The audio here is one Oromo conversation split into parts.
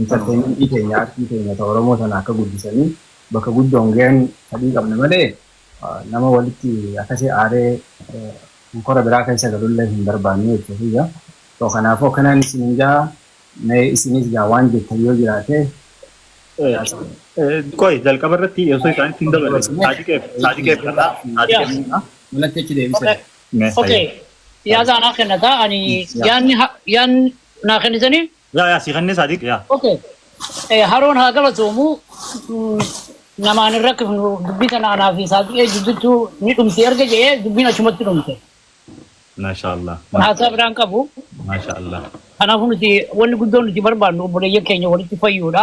Intarteementii keenya, artii keenya ta Oromoo tana akka guddisanii bakka guddoon gayan fadhii qabna malee nama walitti akkasi aaree honkora biraa keessa galullee hin barbaannu jechuu kiyya. So kanaafuu akkanaan isiniin ja'a mee isinis gaa waan jettan yoo jiraate caqasaa. Qoy jalqaba irratti osoo isaanitti hin daballe Saadiqeef Saadiqeef kanaa Saadiqeef Manatti achi deebisee. mee Okay. hayyee. Yaada anaa kennataa ani yaadni ha- yaadni naa kennitanii Yaa yaa sii kannee saadiq yaa. Okay. Eh, Haroon haa galatoomu. Mm, Namaan hin rakkifnu dubbii tana anaa fi saaxilee jidduutti ni dhumti erga jedhee dubbiin achumatti dhumte. Maashaa Allah. Haasaa biraan qabu. Maashaa Allah. Kanaafuu nuti wanni guddoon nuti barbaannu obboleeyyan keenya walitti fayyuudha.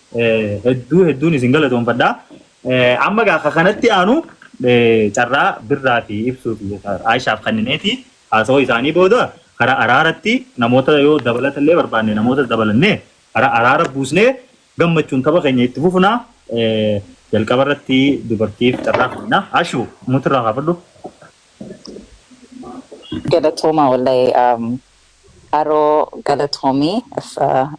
hedduu hedduun isin galatoomfadha. Amma gaa ka kanatti aanu carraa birraa fi ibsuu fi Aishaaf kannineeti haasawaa isaanii booda karaa araaratti namoota yoo dabalata illee barbaanne namoota dabalannee karaa araara buusnee gammachuun tapha keenya itti fufna jalqaba irratti dubartiif carraa kenna. Ashu mutirraa kaafadhu. Galatoomaa wallahi Haroo galatoomi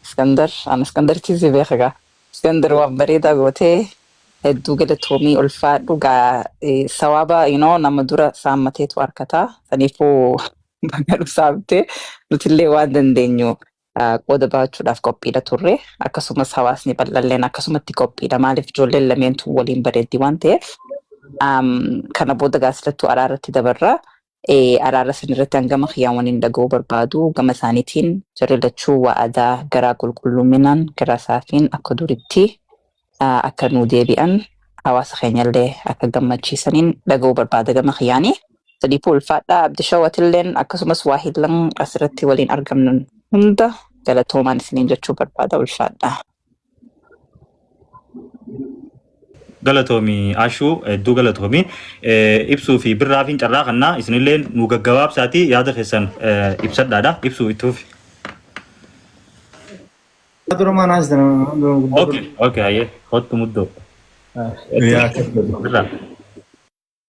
Iskandar an Iskandaritti si beeka gaa Iskandar waan bareedaa gootee hedduu galatoomi ulfaadhu gaa eh, sawaaba you know, nama dura saammateetu harkata saniifuu baga nu saamte nutillee waan dandeenyu ah, qooda ba'achuudhaaf qophiidha turre akkasumas hawaasni bal'alleen akkasumatti qophiidha maaliif ijoolleen lameentuu waliin bareeddi waan ta'eef Am, kana booda gaasilattuu araarratti dabarra Araara san irratti hangama kiyyaan waniin dhaga'uu barbaadu gama isaaniitiin jarri lachuu wa'adaa garaa qulqullumminaan garaa saafiin akka duritti akka nuu deebi'an hawaasa keenyallee akka gammachiisaniin dhaga'uu barbaada gama kiyyaanii. Sadiifuu ulfaadhaa Abdishawatilleen akkasumas waahillan asirratti waliin argamnan hunda galatoomaan isiniin jechuu barbaada ulfaadhaa. galatoomi ashuu hedduu galatoomi Eh, ibsuu fi birraafiin carraa kannaa isinillee nu gaggabaabsaatii yaada keessan eh, ibsadhaadha ibsuu itti fufi Dura maan haastan dura guddaa okay okay hayyee kottu muddoo yaa kottu. birraa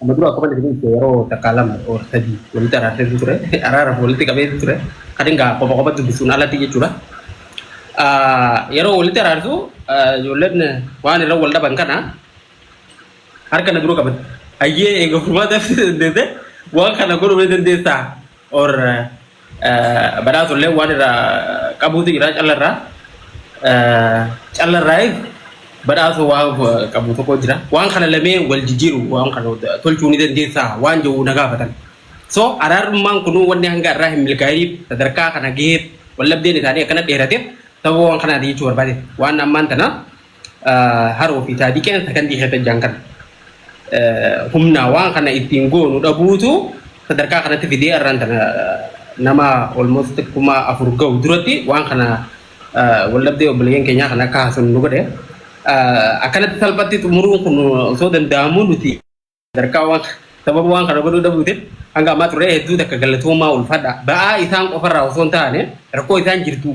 Amma dura akkuma isin ibse yeroo takkaa lama or sadii walitti araarseetu ture. Araaraaf walitti qabeetu ture. Kan egaa qofa qofa dubbisuun alatti jechuudha. Yeroo walitti araarsu ijoolleen waan irra wal dhaban kana harka na dura qabatti. Ayyee egaa furmaata dandeesse waan kana godhuu dandeessaa. or badhaatu illee waan irraa qabuutu jira callarraa callarraa badhaatu waan qabu tokko jira waan kana lamee wal jijjiiru waan kana tolchuu ni dandeessaa waan jedhu na gaafatan so araarummaan kunuu wanni hanga irraa hin milkaa'iniif sadarkaa kana gaheef wallabdeen isaanii akkana dheerateef sababa waan kanaati jechuu barbaade waan ammaan tana Haroo fi taadii keenya sakandii keessa jiran kana humna waan kana ittiin goonu dhabuutu sadarkaa kanatti fidee irraan tana nama almost kuma afur ga'u duratti waan kana waldhabdee obboleeyyan keenyaa kana akka haasofnu nu godhe. Akkanatti salphatti xumuruun kun osoo danda'amuu nuti Sadarkaa waan sababa waan kana godhuu dhabuutiin hanga ammaa turee hedduu takka galatoomaa ulfaadha. Ba'aa isaan qofarraa osoo hin taane rakkoo isaan jirtu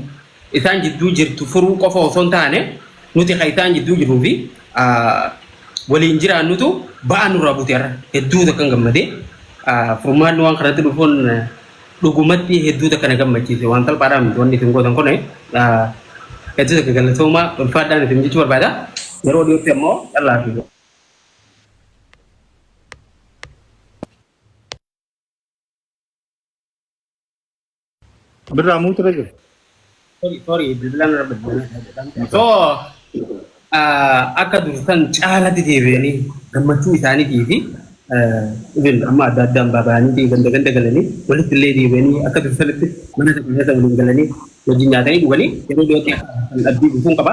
isaan jidduu jirtu furuu qofa osoo hin taane nuti kan isaan jidduu jiruu fi waliin jiraannutu ba'aa nurraa buute irra hedduu takka hin gammadee furmaanni waan kanatti dhufuun dhugumatti hedduu takka na gammachiise waan salphaadhaa miti wanni isin gootan kun hedduu takka galatoomaa ulfaadhaan isin jechuu barbaada. Yeroo dhiyootti ammoo callaa fi Birraa muutu irra jiru. Sorry, sorry, bilbilaan irra bilbilaan. So, ah, akka dursan caalatti deebi'anii gammachuu isaaniitii fi ah, even amma adda addaan baaba'anii fi ganda ganda galanii walitti illee deebi'anii akka dursanitti mana tokko keessa waliin galanii wajjin nyaatanii dhuganii yeroo dhiyootti akka kan abdii guutuun qaba.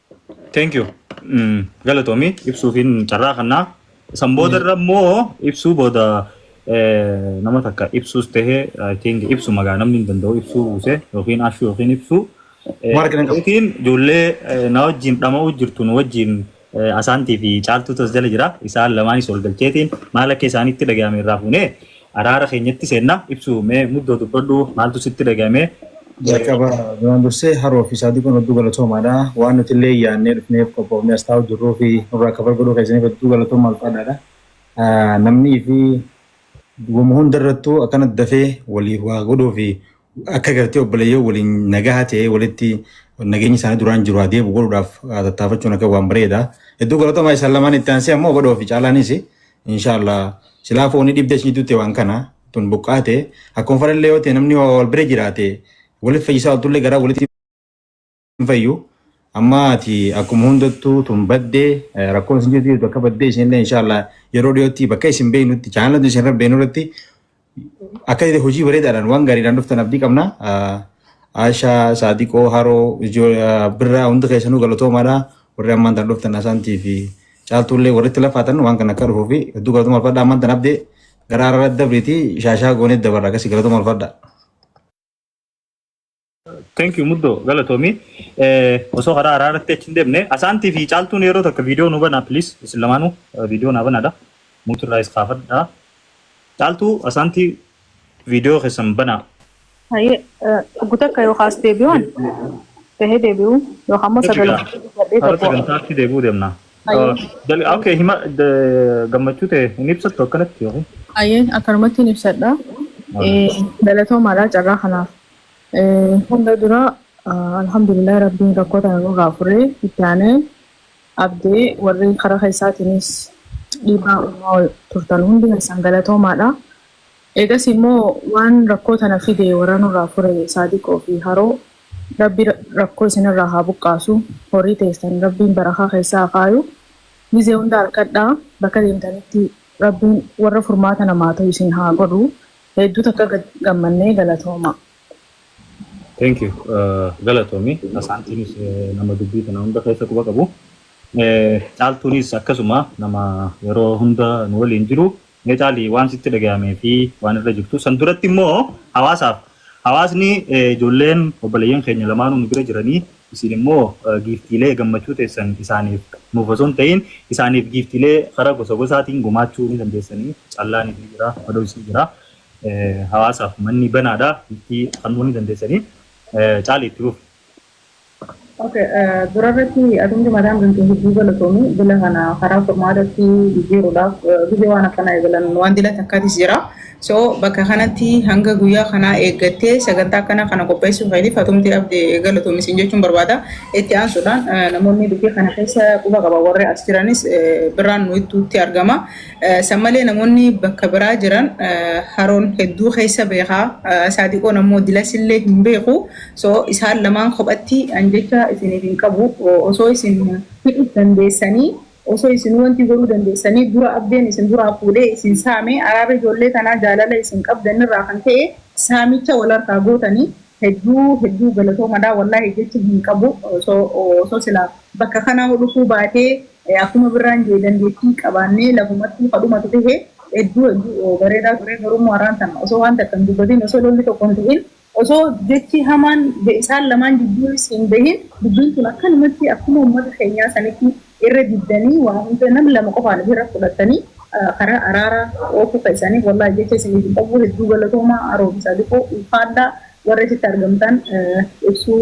Thank you. Mm, Galatoomi ibsuufiin carraa kannaa. San booda irra immoo ibsuu booda eh, nama takka ibsuus ta'e I think ibsu magaa namni hin danda'u ibsuu buuse yookiin ashuu yookiin ibsuu. Eh, Warra kana qabu. Yookiin ijoollee eh, na wajjin dhama'uu jirtu nu wajjin eh, asaantii fi caaltuutu as jala jira. Isaan lamaanis wal galcheetiin maal akka isaanitti dhaga'ame irraa fuunee Araara keenyatti seenna. Ibsu mee muddoo dubbadhu maaltu sitti dhaga'ame? Jalqaba duraan dursee Haroo fi Saadiqoon hedduu galatoomaadha. Waan nuti illee yaadnee dhufneef qophoofnee as taa'uu jirruu fi nurraa cover godhuu keessaniif hedduu galatoomaa ulfaadhaadha. Namni fi wama hunda irrattuu akkana dafee waliif waa godhuu fi akka gartee obboleeyyoo waliin nagaha ta'ee walitti nageenyi isaanii duraan jiru haa deebi'u godhuudhaaf haa tattaafachuun akka waan bareeda. Hedduu galatooma isaan lamaan itti aansee ammoo badhoo fi caalaanis inshaallah silaa fooni dhibdee isin jidduu ta'e waan kana tun buqqaate akkuma fadhallee yoo ta'e namni waa wal bira jiraate walitti fayyisaa oltullee garaa walitti hin fayyu. Amma ati akkuma hundattuu tun baddee eh, rakkoo isin jirtu jirtu akka baddee isinillee inshaallah yeroo dhiyootti bakka isin beeknutti chaanalatu isin irra beeknu irratti akka jedhe hojii bareedaadhaan waan gaariidhaan dhuftan abdii qabna. Ah, Aashaa, Saadiqoo, Haroo, Ijoo, ah, Birraa hundi keessanuu galatoomaadha. Warri ammaan tan dhuftan Asaantii fi Caaltuullee warri itti lafaatan waan kana akka dhufuu fi hedduu galatoomaa alfadha ammaan tan abdee gara araraa dabriitii shaashaa goonee dabarra akkasii galatoomaa alfadha. Thank you muddo galatoomi. Osoo karaa haaraa irratti achi hin deemne asaantii fi caaltuun yeroo takka viidiyoo nu banaa please isin lamaanuu viidiyoo naa banaadha. Muutu irraa is kaafadha. Caaltuu asaantii viidiyoo keessan banaa. Haye oggu takka yoo kaas deebi'uun tahee deebi'uu yookaan immoo sagalee Har'a sagantaatti deebi'uu deemna. Hayyee. Okay, hima d- gammachuu ta'e hin ibsattu akkanatti yookiin? Hayyee akkanumatti hin ibsadha. Eh, Galatoomaadha carraa kanaaf. Eh, Hunda dura ah, alhamdulillah rabbiin rakkoo tana nurraa furee itti aanee abdee warri karaa keessaatiinis dhiibbaa uumaa turtan hundi keessan galatoomaadha. Eegas immoo waan rakkoo tana fide warra nurraa fure saadiqoo fi haroo Rabbi rakkoo isin irraa haa buqqaasu horii teessan rabbiin barakaa keessa haa kaayu gizee hunda arkadhaa bakka deemtanitti rabbiin warra furmaata namaa tahu isin haa godhu heedduu takka gammannee galatooma. Thank you galatoomi Asaantiinis nama dubbii tana hunda keessa quba qabu Caaltuunis akkasuma nama yeroo hunda nu waliin jiru Mee caalii waan sitti dhagayamee fi waan irra jirtu san duratti immoo hawaasaaf hawaasni ijoolleen obboleeyyan keenya lamaanuu nu bira jiranii isin immoo giiftiilee gammachuu teessan isaaniif nuuf osoo hin ta'iin isaaniif giiftiilee karaa gosa gosaatiin gumaachuu ni dandeessanii callaaniif ni jira madois ni jira hawaasaaf manni banaadha giiftii kannuu ni dandeessanii caalii itti fufi. Ok durarratti ati hundi mataan gantu hedduu galatoomi bila kana karaa furmaatatti jijjiiruudhaaf gizee waan akkanaa eegalan waan dila takkaatis jira so bakka kanatti hanga guyyaa kanaa eeggattee sagantaa akkanaa kana qopheessuu keetiif atumti abde galatoomi siin jechuun barbaada itti aansuudhaan namoonni dubbii kana keessa quba qaban warri as jiranis biraan nu ittuutti argama San malee namoonni bakka biraa jiran haroon hedduu keessa beekaa saadiqoon ammoo dilasillee hin beeku so isaan lamaan kophatti an jecha isiniif hin qabu osoo isin hidhus dandeessanii osoo isinuu wanti godhuu dandeessanii dura abdeen isin duraa fuudhee isin saame araarri ijoollee tanaa jaalala isin qabdanirraa kan ka'e saamicha wal harkaa gootani hedduu hedduu galatoomadha wallaahi jecha hin qabu so osoo silaa bakka kanaa dhufuu baatee Akkuma birraan jee dandeettii qabaannee lafumattuu ka dhumatu tahe hedduu hedduu bareedaa ture garuu immoo arraan tana osoo waan takka hin dubbatiin osoo lolli tokko hin tahin osoo jechi hamaan isaan lamaan jidduunis hin bahin dubbiin tun akkanumatti akkuma ummata keenyaa sanitti irra diddanii waa hunda nam lama qofaan ofirra fudhattanii karaa araaraa oofuu keessaniif wallaahi jecha isiniif hin qabu hedduu galatoomaa Aroobisaa Diqoo ulfaadhaa warra achitti argamtan ibsuu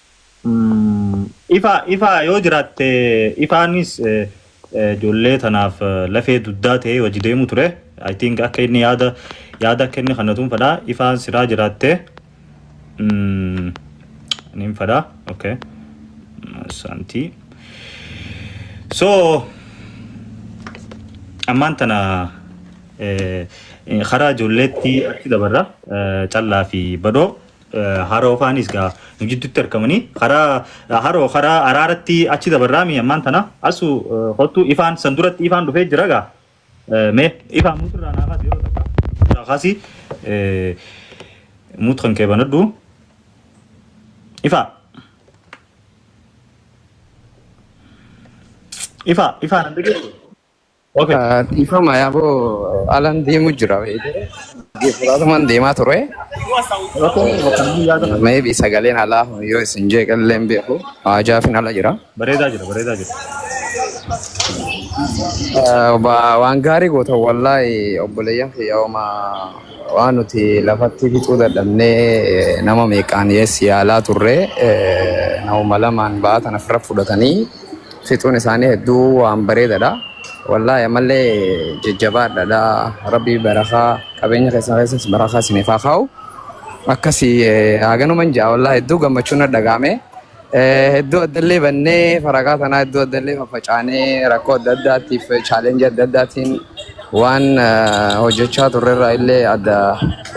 Ifa ifa yoo jiraatte ifaanis ijoollee tanaaf lafee dugdaa ta'ee wajji deemu ture I think akka inni yaada yaada akka inni kannatuun fedha ifaan siraa jiraatte nin fedha okay santii so ammaan tana karaa ijoolleetti achi dabarra callaa fi badhoo Haroo faanis gaa nu jiddutti arkamanii karaa haroo karaa araaratti achi dabarraa mi ammaan tana asu kottu ifaan san duratti ifaan dhufee jira gaa mee ifaan mutirraa naa kaasi yeroo takka mutirraa kaasi mut kan kee banadhu ifaa ifaa ifaa nan dhagee Okay. Dhiifama yaaboo alan deemu jira. Fudhatumaan deemaa ture. Rakkoo miti bakka namni yaada kana. Maybe sagaleen alaa yoo isin jeeqallee hin beeku. Hajaafin ala jira. Bareedaa jira bareedaa jira. Eh, ba- Waan gaarii gootan wallaahi obboleeyyan kiyya homaa waan nuti lafatti fixuu dadhabnee eh, nama meeqaan yes yaalaa turre eh, nama lamaan ba'aa tana fira fudhatanii fixuun isaanii hedduu waan bareedadha. Wallaahi ammallee jajjabaadhaadha. Rabbii barakaa qabeenya keessan keessas barakaa isiniif haa kaa'u. Akkasi haganuman ja'a wallaahi hedduu gammachuun na dhaga'ame. Hedduu addallee bannee faragaa tanaa hedduu addallee faffacaanee rakkoo adda addaatiif chaalenjii adda addaatiin waan hojjechaa turrerraa illee adda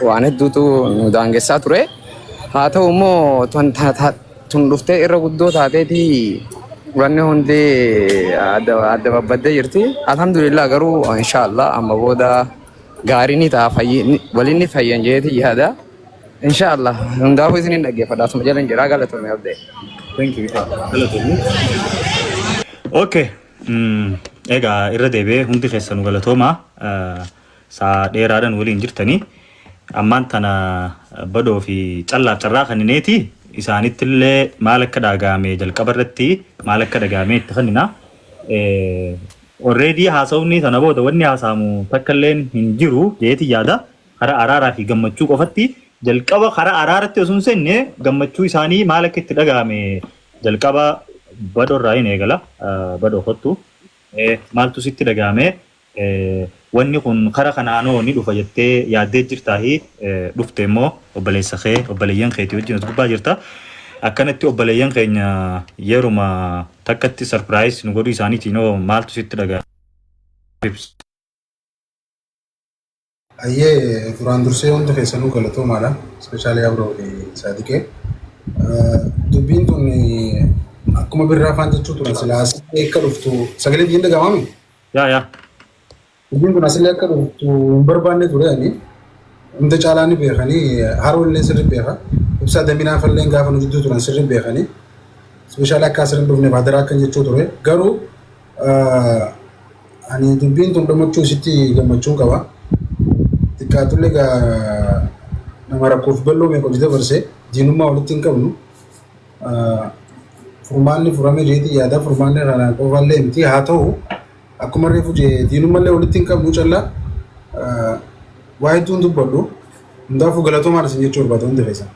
waan hedduutu nu daangessaa ture. Haa ta'u immoo Tun dhuftee irra guddoo taateeti wanni hundi adda babbaddee jirti. Alhamdulillah garuu inshaallah amma booda gaarii ni ta'a waliin ni fayyan jeeti yaada. Inshaallah hundaafuu isin hin dhaggeeffadha asuma jala hin jira galatoomii abdee. Thank you. Galatoomii. Okay. Egaa irra deebi'ee hundi keessanu galatoomaa. Saa dheeraadhan waliin jirtanii ammaan tana badoo fi callaaf carraa kannineeti isaanittillee maal akka dhaagaame jalqaba irratti maal akka dhagaamee itti kannina. Orreedii haasawni sana booda wanni haasaamu takka illeen hin jiru jeeti yaada karaa araaraa fi gammachuu qofatti jalqaba karaa araaratti osoo hin seenne gammachuu isaanii maal akka itti dhagaame jalqaba badoo irraa hin eegala badoo kottu maaltu sitti dhagaame Wanni kun kara kanaan hoo ni dhufa jettee yaaddee jirtaa hii? Dhufte immoo obboleessa kee obboleeyyan keetii wajjin as gubbaa jirta. Akkanatti obboleeyyan keenya yeruma takkatti surprise nu godhuu isaaniitiin hoo maaltu sitti dhaga'ama? Ayyee duraan dursee hundi keessanuu galatoomaadha. Ispeeshaalii Abroo fi Saadiqee. Dubbiin tun akkuma birraa afaan jechuu turan silaa asitti akka dhuftu sagalee biyyiin dhagamaami. Yaa yaa. Dubbiin kun asillee akka dhuftu hin barbaanne ture ani. Hunda caalaa ni beekanii haroo illee sirri beeka. Ibsaa daminaa fallee gaafa nu jidduu turan sirri beekanii. Ispeeshaalii akka asirra hin dhufneef hadaraa akkan jechuu ture. Garuu Ani dubbiin tun dhumuchuu isitti gammachuun qaba. Xiqqaatullee egaa nama rakkoof balloo meeqa hojii dabarse diinummaa walitti hin qabnu. Furmaanni furamee jeetii yaadaa furmaanni irraa qofaallee miti haa ta'u akkuma reefu jee diinummallee walitti hin qabnu callaa waa hedduun dubbadhu. Hundaafuu galatoomaan isin jechuu barbaada hundi keessan.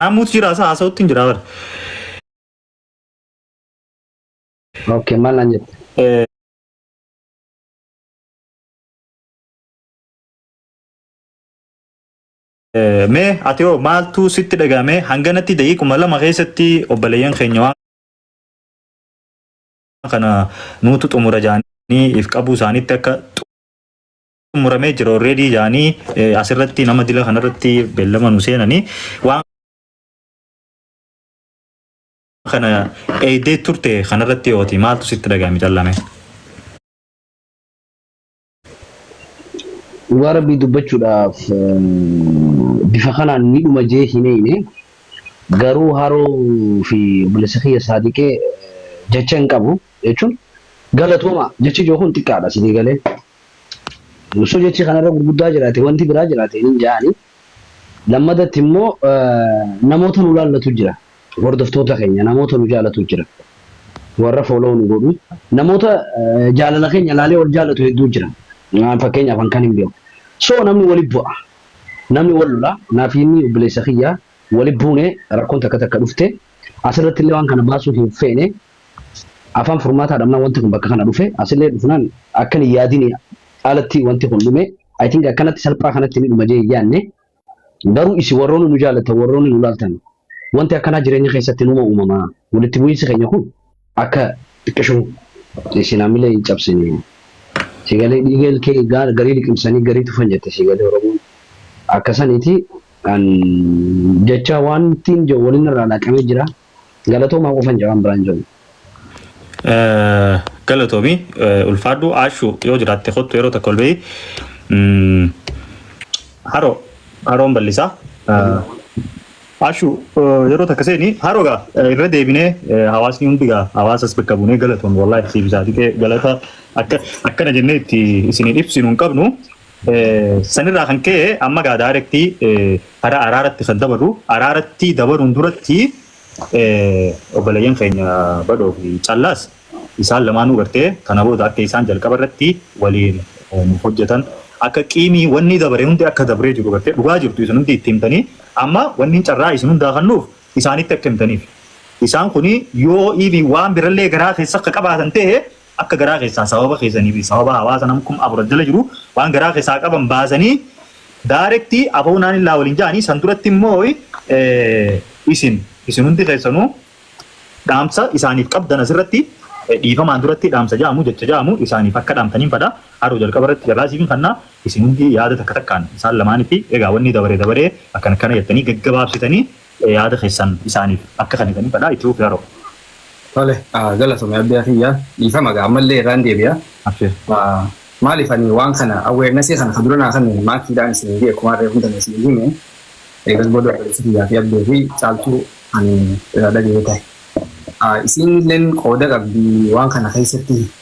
Namuutu jira isaa haasa'utti hin jira bara. Ok, maal naan jette? Mee ati hoo maaltu sitti dhaga'ame hanganatti daqiiquma lama keessatti obboleeyyan keenya waan kana nuutu xumura jaanii if qabuu isaaniitti akka xumuramee jira already jaanii eh, asirratti nama dila kanarratti beellama nu seenanii waan kana eeydee turte kanarratti yooti maaltu sitti dhaga'ame callame. Dhugaa rabbii dubbachuudhaaf bifa kanaan ni dhuma jee hin eeyne garuu haroo fi obboleessa kiyya saadiqee jecha hin qabu jechuun galatooma jechi joo kun xiqqaadha sinii galee osoo jechi kanarra gurguddaa jiraate wanti biraa jiraate hin jaani lammadatti immoo namoota nu laallatu jira Hordoftoota keenya namoota nu jaalatu jira. Warra follow nu godhu. Namoota jaalala keenya laalee wal jaalatu hedduu jira. Fakkeenyaaf an kan hin beeku. So namni wali bu'a. Namni wal lola. Naaf inni obboleessa kiyya wali buune rakkoon takka takka dhufte. Asirratti illee waan kana baasuu hin feene. Afaan furmaataa dhabnaan wanti kun bakka kana dhufe. Asillee dhufnaan akkan hin yaadini alatti wanti kun dhume. I think akkanatti salphaa kanatti ni dhuma jee hin yaadne. Garuu isin warroonni nu jaallattan, warroonni nu laaltan, wanti akkanaa jireenya keessatti numa uumamaa? Walitti bu'iinsi keenya kun akka xiqqishu isin hamilee hin cabsine. Siigalee dhiiga ilkee gaara garii liqimsanii garii tufan jette siigalee Oromoon. Akka saniiti an jechaa waantiin jedhu waliin narraa laaqamee jira. Galatoomaa qofan jedha waan biraan jedhu. Galatoomi ulfaadhu Aashu yoo jiraatte kottu yeroo takka ol bahi. Haroo haroon bal'isa. Aashu yeroo takka seeni haroo gaa irra deebinee hawaasni hundi gaa hawaasas bakka buunee galatoomi wallaahi siif isaa xiqee galata akka akkana jennee itti isin ibsinu hin qabnu. Sanirraa kan ka'e amma egaa daayirektii karaa araaratti kan dabarru araaratti dabaruun duratti obboleeyyan keenya badhoo fi callaas isaan lamaanuu gartee kana booda akka isaan jalqaba irratti waliin hojjetan akka qiimii wanni dabare hundi akka dabree jiru gartee dhugaa jirtu isin hundi itti himtanii amma wanni carraa isin hundaa kannuuf isaanitti akka himtaniif isaan kuni yoo iivi waan birallee garaa keessa akka qabaatan ta'e Akka garaa keessaa sababa keessanii fi sababa hawaasa nam kum afur as jala jiru waan garaa keessaa qaban baasanii direct aboo naan illaa waliin ja'anii san duratti immoo isin isin hundi keessanuu dhaamsa isaaniif qabdan asirratti dhiifamaan duratti dhaamsa ja'amu jecha ja'amu isaaniif akka dhaamtaniin fadha haroo jalqaba irratti carraa isiin kanna isin hundi yaada takka takkaan isaan lamaanitti egaa wanni dabaree dabaree akkana akkana jettanii gaggabaabsitanii Yaada keessan isaaniif akka kannitaniif fedha itti fufi Haroo. Tole galatomi Abdiyaa kiyya dhiifama gaa ammallee irraan deebi'a Abshir. maaliif ani waan kana awareness kana ka dura naa kenname maakiidhaan isin himee akkuma harree hunda isin hime eegas booda obboleessa kiyyaa fi abdee fi caaltuu ani irraa dhaga'ee ta'e isiin illeen qooda qabdi waan kana keessatti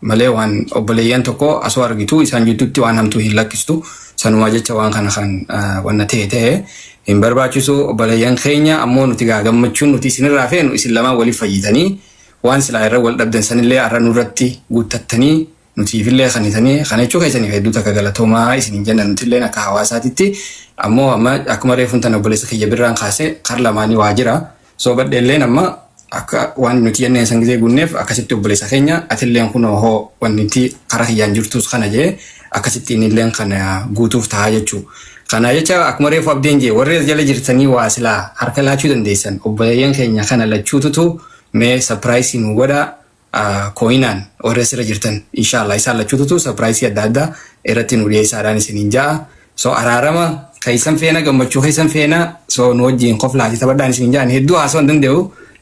malee waan obboleeyyan tokko asoo argitu isaan jiddutti waan hamtuu hin lakkistu sanumaa jecha waan kana kan wanna ta'e ta'e hin barbaachisu obboleeyyan keenya ammoo nuti gaa gammachuun nuti isinirraa feenu isin lamaan waliif fayyitanii waan silaa irra wal dhabdan sanillee arra nurratti guuttattanii nutiifillee kanitanii kana jechuu keessaniif hedduu takka galatoomaa isin hin jenna nutilleen akka hawaasaatitti ammoo amma akkuma reefuun tana obboleessa kiyya birraan kaase kar lamaanii waa jira So badheelleen amma akka waan nuti jenneen san gisee guunneef akkasitti obboleessa keenya atilleen kun hoo wanti karaa kiyyaan jirtus kana jee akkasitti innilleen kana guutuuf tahaa jechuu. Kana jecha akkuma reefu abdeen jee warri as jala jirtanii waa silaa harka laachuu dandeessan obboleeyyan keenya kana lachuututu mee sapiraayisii nu godhaa. coinaan warri asirra jirtan inshallah isaan lachuututu surprise adda addaa irratti nu dhiyeessaadhaan isiniin ja'a so araarama keessan feena gammachuu keessan feena so nu wajjin koflaati taphadhaan isiniin ja'an hedduu haasoo hin danda'u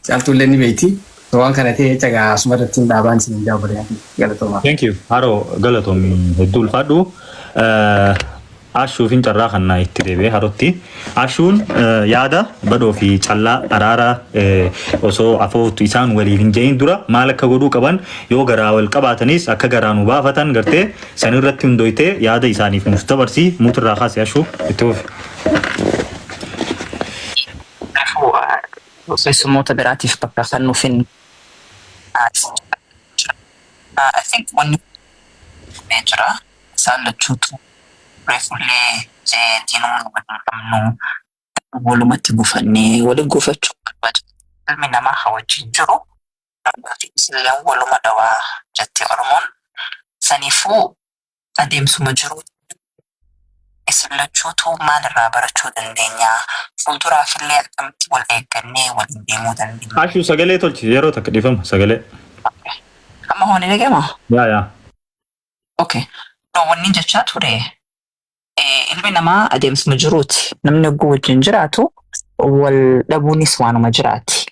caaltuullee ni beeyti so waan kana ta'e jecha gaa asuma irratti hin dhaabaan isiniin ja'a obboleeyyan kiyya galatoomaa. Thank you. Haroo galatomi hedduu ulfaadhu. Eh, Ashuufin carraa kannaa itti deebi'ee harotti. Ashuun yaada badhoo fi callaa araara osoo afooftu isaan waliif hin je'in dura maal akka godhuu qaban yoo garaa wal qabaatanis akka garaa nu baafatan gartee san irratti hundooytee yaada isaaniif nuuf dabarsi muut irraa kaasi ashuu itti fufi. Kanaafuu keessummoota biraatiif bakka kannuufin haa dhiisu. I think wanni kun jira. Isaan lachuutu reefullee diinummaa wal hin qabnu. Garuu walumatti gufanne. Wali gufachuun barbaachisaa miti. Ilmi namaa ka wajjiin jiru dhugaafiisilleen waluma dhawa jette Oromoon. Saniifuu adeemsuma jiruutiin isin lachuutuu maal irraa barachuu dandeenya? Fuulduraafillee akkamitti wal eeggannee waliin deemuu dandeenya? Ashu sagalee tolchi yeroo takka dhifama sagalee. Ok. Amma hoo ni dhagayamaa? Yaa yaa. Okay. No, wanni jechaa ture eh, ilmi namaa adeemsuma jiruuti. Namni oguu wajjin jiraatu wal dhabuunis waanuma jiraati.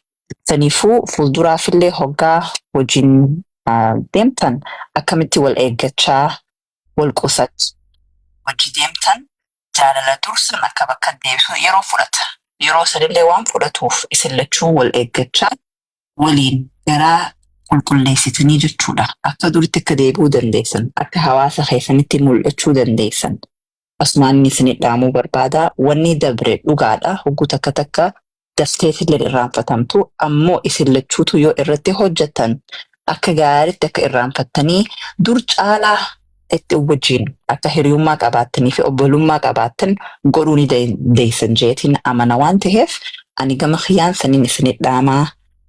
Saniifuu fuulduraafillee hoggaa wajjin ah, deemtan akkamitti wal eeggachaa wal qusatu. Wajji deemtan jaalala dursan akka bakka deebisu yeroo fudhata. Yeroo sanillee waan fudhatuuf isin lachuu wal eeggachaa waliin garaa qulqulleessitanii jechuudha. Akka duritti akka deebi'uu dandeessan, akka hawaasa keessanitti mul'achuu dandeessan asumaan isin dhaamuu barbaada. Wanni dabre dhugaadha. Hogguu takka takka daftee isillee irraanfatamtu. Ammoo isin lachuutu yoo irratti hojjettan akka gaariitti akka irraanfattanii dur caalaa itti wajjin akka hiriyummaa qabaattanii fi obbolummaa qabaattan godhuu ni dandeessan jeetiin amana waan ta'eef ani gama kiyyaan saniin isinit dhaamaa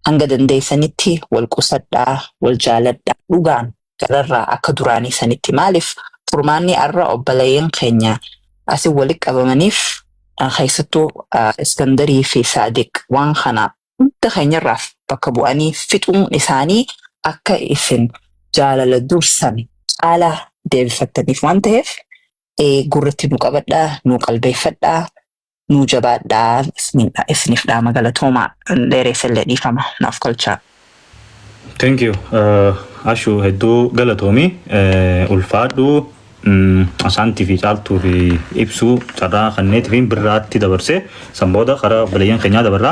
hanga dandeessanitti wal qusadhaa wal jaaladhaa dhugaan gararraa akka duraanii sanitti maaliif furmaanni arra obboleeyyan keenya asin walitti qabamaniif keessattuu iskandarii fi saadiq waan kana hunda keenyarraa bakka bu'anii fixuun isaanii akka isin jaalala dursame caalaa deebifattaniif waan ta'eef gurratti nu qabadhaa, nu qalbeeffadhaa, nu jabaadhaa isiniif dhaama galatoomaa dheereessellee dhiifama naaf galchaa. Thank you Ashu hedduu galatoomi ulfaadhu Asaantii fi caaltuu fi ibsuu carraa kanneetii fi birraatti dabarse san booda karaa obboleeyyan keenyaa dabarra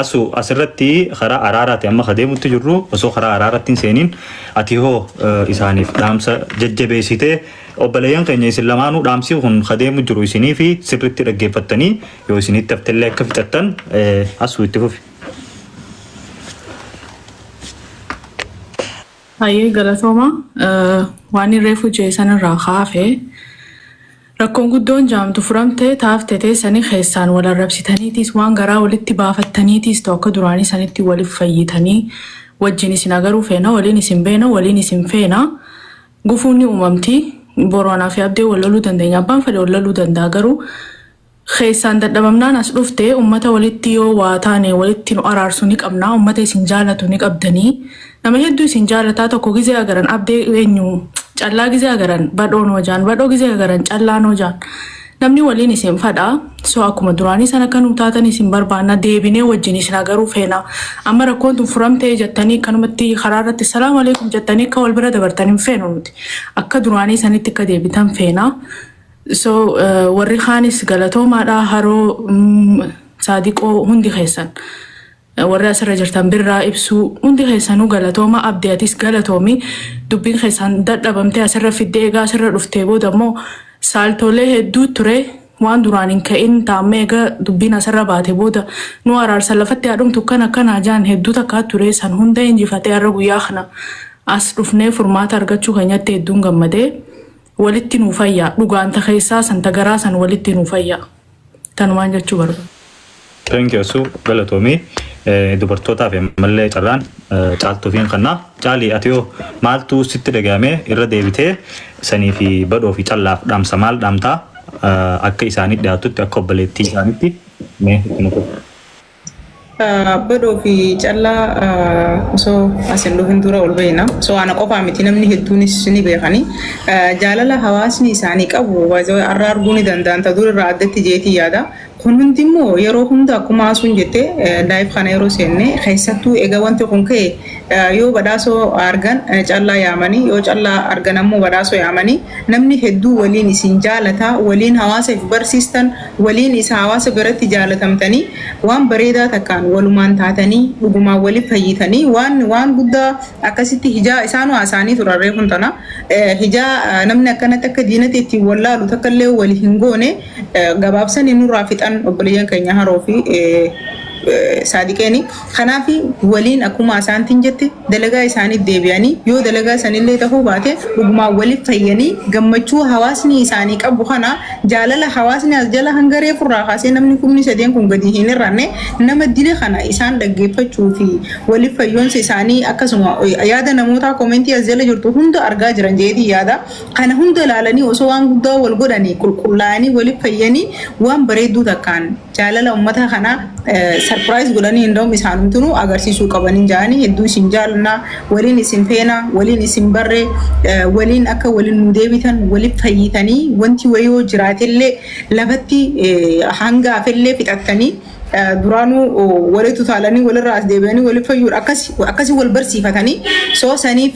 asu asirratti karaa araaraati amma kadeemutti jirru osoo karaa araaratti hin seeniin ati hoo isaaniif dhaamsa jajjabeessite obboleeyyan keenya isin lamaanuu dhaamsii kun kadeemu jiru isinii fi sirritti dhaggeeffattanii yoo isinitti haftellee akka fixattan asu itti fufi. Hayyee galatooma waan irree fujee san irraa kaafe rakkoon guddoon jaamtu furamte taafte teessanii keessaan wal arrabsitaniitiis waan garaa walitti baafattaniitiis ta'u akka duraanii sanitti waliif fayyitanii wajjin isin agaruu feena waliin isin beena waliin isin feena gufuun ni uumamti boru anaa fi abdee wal loluu dandeenya abbaan fedhe wal loluu danda'a garuu Keessaan dadhabamnaan as dhufte ummata walitti yoo waa taane walitti nu araarsu ni qabna ummata isin jaalatu ni qabdani nama hedduu isin jaalataa tokko gizee agaran abde enyu callaa gizee agaran badhoo noo jaan badhoo gizee agaran callaa noo jaan namni waliin isin fadha so akkuma duraanii san akka nuu taatan isin barbaanna deebinee wajjin isin agaruu feena amma rakkoon tun furamtee jettanii kanumatti karaa irratti salaamu alaikum jettanii akka wal bira dabartan hin feenu nuti akka duraanii sanitti akka deebitan feena So warri kaanis galatoomaadha haroo saadiqoo hundi keessan warri asirra jirtan birraa ibsuu hundi keessanuu galatooma abdi atis galatoomi dubbiin keessan dadhabamtee asirra fiddee egaa asirra dhuftee booda immoo saaltoolee hedduu ture waan duraan hin ka'in taammee egaa dubbiin asirra baate booda nu araarsa lafatti haadhumtu kan akkanaa jaan hedduu takkaa ture san hunda injifatee har'a guyyaa kana as dhufnee furmaata argachuu keenyatti hedduun gammadee. walitti nuu fayyaa dhugaan ta keessaa san ta garaa san walitti nuu fayyaa tanumaan jechuu barbaada. Thank you Asuu galatoomii dubartootaaf ammallee carraan caaltuufiin kanna caalii ati hoo maaltu sitti dhaga'ame irra deebitee sanii fi badhoo fi callaaf dhaamsa maal dhaamtaa akka isaanii dhiyaatutti akka obboleettii isaanitti mee itti nuuf. Badhoo fi callaa osoo as hin dhufin dura ol beekna. So ana qofaa miti namni hedduunis ni beekani. Jaalala hawaasni isaanii qabu baay'ee har'a arguu ni danda'an ta dur irraa addatti jeetii yaada. Kun hundi immoo yeroo hunda akkuma haasuun jette live kana yeroo seenne keessattuu egaa wanti kun ka'e yoo badhaasoo argan callaa yaamanii yoo callaa argan ammoo badhaasoo yaamanii namni hedduu waliin isin jaalataa waliin hawaasaaf barsiistan waliin isa hawaasa biratti jaalatamtanii waan bareedaa takkaan walumaan taatanii dhugumaan wali fayyitanii waan waan guddaa akkasitti hijaa isaanu haasaanii turan reefun tana hijaa namni akkanatti akka diinatti ittiin wallaalu takka illee wali hin goone gabaabsanii nurraa fixan obboleeyyan keenya haroo fi saadiqeeni. Kanaafi, waliin akuma Asaantiin jette, dalagaa isaaniitti deebi'anii, yoo dalagaa sanillee tahuu baate, dhugumaan waliif fayyanii, gammachuu hawaasni isaanii qabu kana, jaalala hawaasni as jala hanga reefu irraa kaasee namni kumni sadeen kun gadi hin hir'anne, nama dile kana isaan dhaggeeffachuu fi waliif fayyoonsa isaanii akkasuma yaada namootaa commentii as jala jirtu hunda argaa jiran jedheetiin yaada. Kana hunda ilaalanii osoo waan guddaa wal godhanii, qulqullaayanii, waliif fayyanii, waan bareedduu takkaan. jaalala ummata kana sarpiraayiz godhanii hindoom isaanumtinu agarsiisuu qabaniin jaanii hedduu isin jaalna waliin isin feena waliin isin barre waliin akka waliin nu deebitan waliif fayyitanii wanti wayoo jiraatellee lafatti hanga afellee fixattanii duraanuu walitti utaalanii walirraa as deebi'anii waliif fayyuudha akkasi wal barsiifatanii soo saniif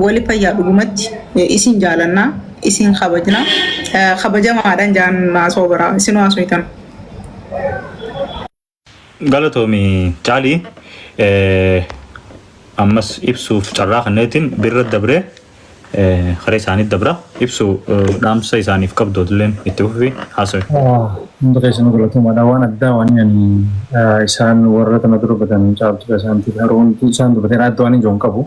Wali fayyaa dhugumatti isin jaalanna isin kabajna kabajamaadhan jaan naasoo biraa isin waasuytan. Galatoomi caalii ammas ibsuuf carraa kanneetiin birra dabree kara isaanii dabra ibsu dhaamsa isaaniif qabdootleen itti fufi haasawi. Hundi keessanuu galatoomaadha. Waan addaa waan ani isaan warra tana dura batan caaltuudha isaantiif garuu hundi isaan dubateera adda waan hin jiru hin qabu.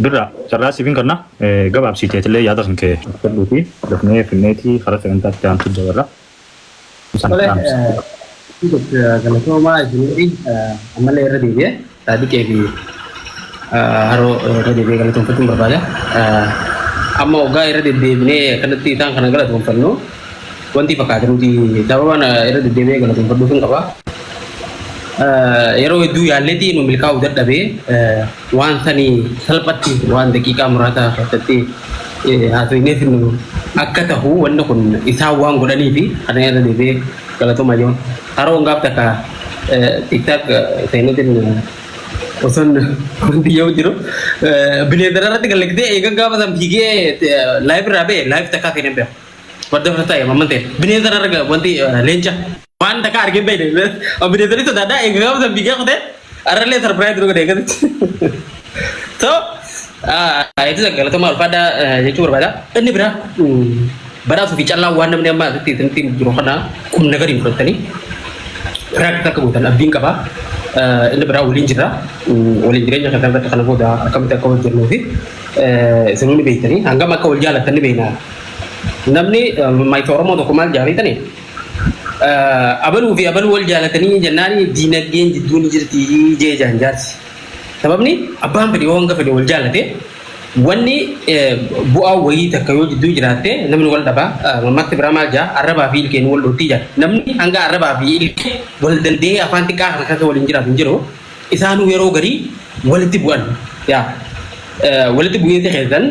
Birra carraa siifin kanna gabaabsiiteetillee yaada kan kee fudhadhuu fi dafnee finneetii karaa sagantaa itti aantu dabarra. Isaan Tole, dhaamsa. eh, galatoomaa isinii ammallee irra deebi'ee Saadiqee fi eh, haroo irra deebi'ee galatoomfachuun barbaada. Eh, Amma waggaa irra deddeebinee akkanatti isaan kana galatoomfannu Wanti fakkaate nuti sababa na irra deddeebi'ee galateeffadhuufin qaba. Eh, Yeroo hedduu yaalleetii nu milkaa'uu dadhabee eh, waan sani salphatti waan daqiiqaa muraasaa keessatti eh, haasofnee finnu akka tahu wanni kun isaan waan godhaniifi kana irra deebi'ee galatoomaa jiru. Haroon gaaf takka eh, tiktak eh, seeneetiin eh, osoon wanti yoo jiru eh, bineeldara irratti gallagdee eegan gaafa san fiigee eh, laayif irraa ba'e laayif takkaa seenee beeku. Wadda fata ya mamante. Bineensa irra arga wanti eh, leenca. Waan takka argin beekne. Bineensa ni sodaadha. Egaa gaafa san biyya kutee arrallee sarpiraayiz nu godhe eegatti. So, itti galatoomaa ulfaadhaa eh, jechuu barbaada. Inni biraa mm, badhaasuu fi callaa waan namni amma asitti isinitti jiru kana kun nagariin fudhattanii Rakkoo akka gootan abdiin qaba. Eh, Inni biraa waliin jira. Mm, Waliin jireenya kan irratti kana booda akkamitti akka hojjennu fi eh, isin hundi beektanii hangam akka wal jaalatan ni beekna. Namni maayita Oromoo tokko maal jaaree tani? Abaluu fi abaluu wal jaalatanii jennaan diinagdeen jidduu ni jirti jee jaan jaarsi. Sababni abbaan fedhe yoo hanga fedhe wal jaalate wanni bu'aa wayii takka yoo jidduu jiraatte namni wal dhaba mammatti biraa maal jaa arrabaa fi ilkeen wal dhootti jaa. Namni hanga arrabaa fi ilkee wal danda'ee afaan xiqqaa kana keessa waliin jiraatu hin jiru. isaanuu yeroo garii walitti bu'an yaa walitti bu'iinsi keessan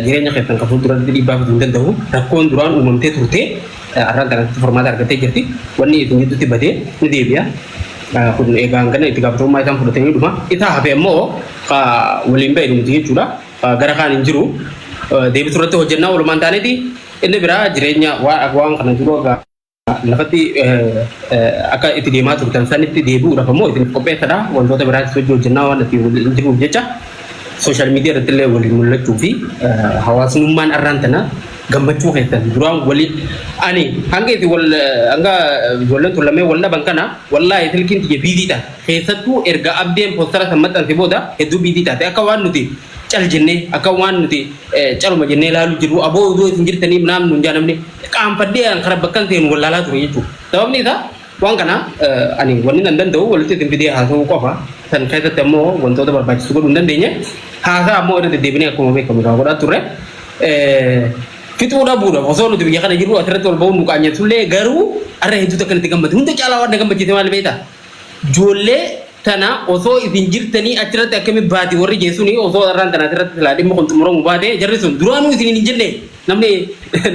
jireenya keessan kan fuulduratti dhiibbaa fiduu hin danda'u rakkoon duraan uumamtee turte arraan kanatti furmaata argattee jirti wanni isin gidduutti badee ni deebi'a kun egaa hangana itti gaafatamummaa isaan fudhatanii dhuma isaa hafe immoo ka waliin ba'e dhumti jechuudha Ka gara kaan hin jiru deebisu irratti hojjennaa walumaan taaneeti inni biraa jireenya waan waan kana dura gaa lafatti akka itti deemaa turtan sanitti deebi'uudhaaf ammoo isin qopheessadha. Wantoota biraas hojii hojjennaa waan itti waliin jiruuf jecha sooshaal miidiyaa irratti illee waliin mul'achuu fi hawaasummaan arraan tana gammachuu keessan duraan walii ani hanga isin wal hanga ijoolleen tun lameen wal dhaban kana wallaahi silkiin tiyya biizii taate keessattuu erga abdeen poostara san maxxanse booda hedduu biizii taate akka waan nuti cal jennee akka waan nuti caluma jennee ilaaluu jirru aboo odoo isin jirtanii naam nuun jaa namni qaanfadhee an kara bakkan seenu wallaalaa ture jechuudha. Sababni isaa waan kana ani wanni nan danda'u walitti isin fidee haasa'uu qofa san keessatti ammoo wantoota barbaachisu godhuu hin dandeenye haasaa ammoo irra deddeebinee akkuma beekamu irraa godhaa turre. Fixuu dhabuudhaaf osoo nuti biyya kana jirru asirratti wal ba'uun nu qaanyeessullee garuu har'a hedduutu akka nuti gammadu hunda caalaa waan na gammachiise maal beektaa? Joollee tana osoo isin jirtanii achirratti akkami baati warri jee suni osoo arraan tana asirratti silaa dhimmi kun xumuramu baate jarri sun duraanuu isiniin hin jenne namni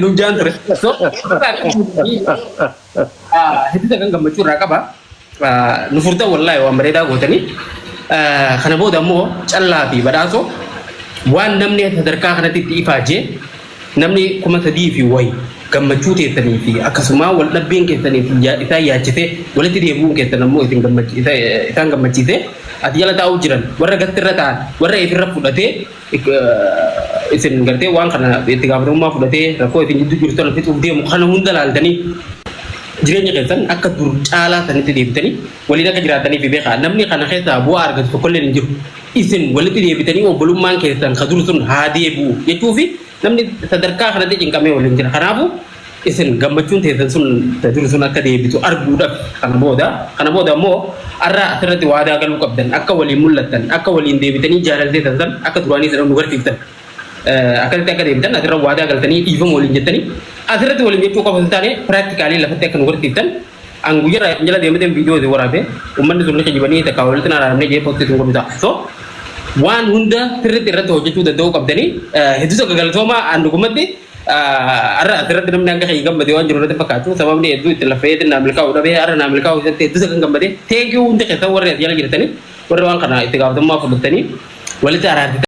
nuun jaan ture. So irraa qabanii hedduuta kan gammachuu irraa qaba. Nu furtan wallaahi waan bareedaa gootanii. Kana booda immoo callaa fi badhaasoo waan namni sadarkaa kanatti itti ifaajee Namni kuma sadii fi wayi gammachuu teessanii fi akkasumaa wal dhabbiin keessan isaan yaachisee walitti deebi'uun keessan ammoo isaan gammachiisee as jala taa'uu jiran warra gastirra taa'an warra ifirra fudhatee isin gartee waan kana itti gaafatamummaa fudhatee rakkoo isin gidduu jiru sana fixuuf deemu kana hunda laaltanii jireenya keessan akka dur caalaa sanitti deebitanii waliin akka jiraataniif beekaa namni kana keessaa bu'aa argatu tokkolleen hin jiru. Isin walitti deebitanii obbolummaan keessan ka dur sun haa deebi'u jechuufi namni sadarkaa kanatti cinqamee waliin jira. Kanaafuu isin gammachuun teessan sun ta dur sun akka deebitu arguudhaaf kana booda kana booda immoo arra asirratti waadaa galuu qabdan akka waliin mul'attan akka waliin deebitanii jaalala teessan san akka duraanii sana nu garsiiftan Eh, akkasitti akka deebitan asirra waadaa galtanii dhiifama waliin jettanii asirratti waliin jechuu qofa hin taane piraaktikaaliin lafatti akka nu garsiiftan An guyya irraa isin jala deemateen viidiyoo isin waraabe ummanni sun ni kijibanii takka walitti na dhaabnee jee posti isin godhu ta'a. So waan hunda sirriitti irratti hojjechuu danda'uu qabdanii hedduu takka galatoomaa an dhugumatti har'a asirratti namni akka kiyya gammade waan jiru irratti fakkaatu sababni hedduu itti laffa'eetiin naa milkaa'u dhabee har'a naa milkaa'u isatti hedduu takka gammade teekii hundi keessan warri as jala jirtanii warri waan kana itti gaafatamummaa fudhattanii walitti araarsitan.